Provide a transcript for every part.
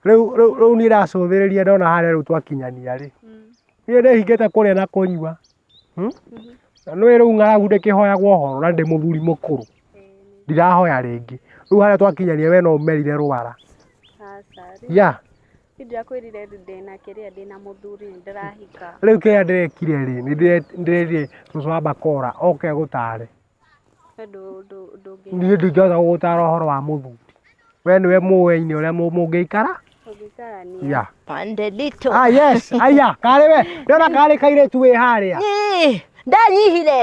Rĩu rĩu rĩu niĩ ndacũthĩrĩria ndona harĩa rĩu twakinyania rĩ niĩ ndĩhingĩte kũrĩa na kũnyua hmm? na nĩ rĩu ng'aragu ndĩkĩhoyagwo horo na ndĩ mũthuri mũkũrũ ndirahoya rĩngĩ rĩu harĩa twakinyania we no ũmerire rwara Aca, rĩu ya niĩ ndirakwĩrire rĩ ndĩna kĩrĩa ndĩna mũthuri nĩ ndĩrahika rĩu kĩrĩa ndĩrekire rĩ nĩ ndĩre- ndĩrerire cũcũ wa bakora oke agũtare Niĩ ndingĩhota gũgũtara ũhoro wa mũthuri. We nĩwe mũĩ nĩ ũrĩa mũngĩikara. Yeah. Pande nditũ. Ah, yes. Aya, karĩ we. Ndona karĩ kairĩtu wĩ harĩa. Ĩĩ, Ndanyihire.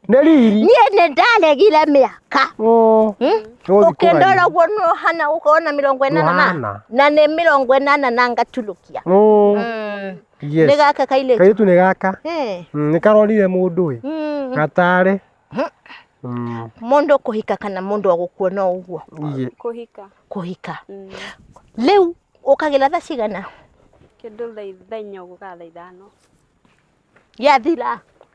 Nĩ riri. Niĩ nĩ ndaregire mĩaka. Oh. Hmm? Tũgũthiĩ kũraihu. Ũkĩndora ũguo nĩ ũhana gũkorwo na mĩrongo ĩnana na Ũhana. na nĩ mĩrongo ĩnana na ngatulũkia. Oh. Mm. Yes. nĩ gaka kairĩtu Kairĩtu nĩ gaka. Eh, Mm, Nĩ karorire mũndũ ĩ. mm, Gatarĩ. Mhm. Mm, mũndũ kũhika kana mũndũ agũkuona o ũguo iye. kuhika kũhika mm. rĩu ũkagĩra tha cigana kindu thaitha inyo guka thaithano yathira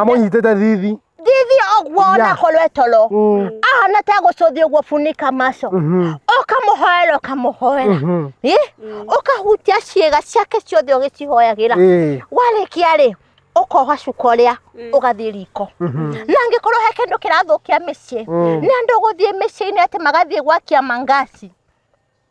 amũnyitĩte thithi thithi ũguo ona Yeah. korwo etoro Mm, ahana ta gũcũthi ũguo bunika maco mhm, ũkamũhoera ũkamũhoera mhm, Ĩ? ũkahutia ciĩga ciake ciothe ũgĩcihoyagĩra ĩĩ, warĩkia rĩ ũkoha cuka ũrĩa ũgathiĩ riko mhm, na angĩkorwo he kĩndũ kĩrathũkia mĩciĩ Mm. nĩ andũ gũthiĩ mĩciĩ-inĩ atĩ magathiĩ gwakia mangasi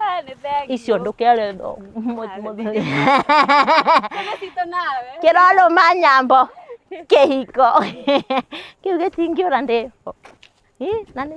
Eh, nĩ thengio. icio ndũkere ndo- mũ- Ah, mũthuri. Nĩ citũ nawe. kĩrorũma nyambo kĩhiko kĩu gĩtingĩũra ndĩ Ih, na nĩ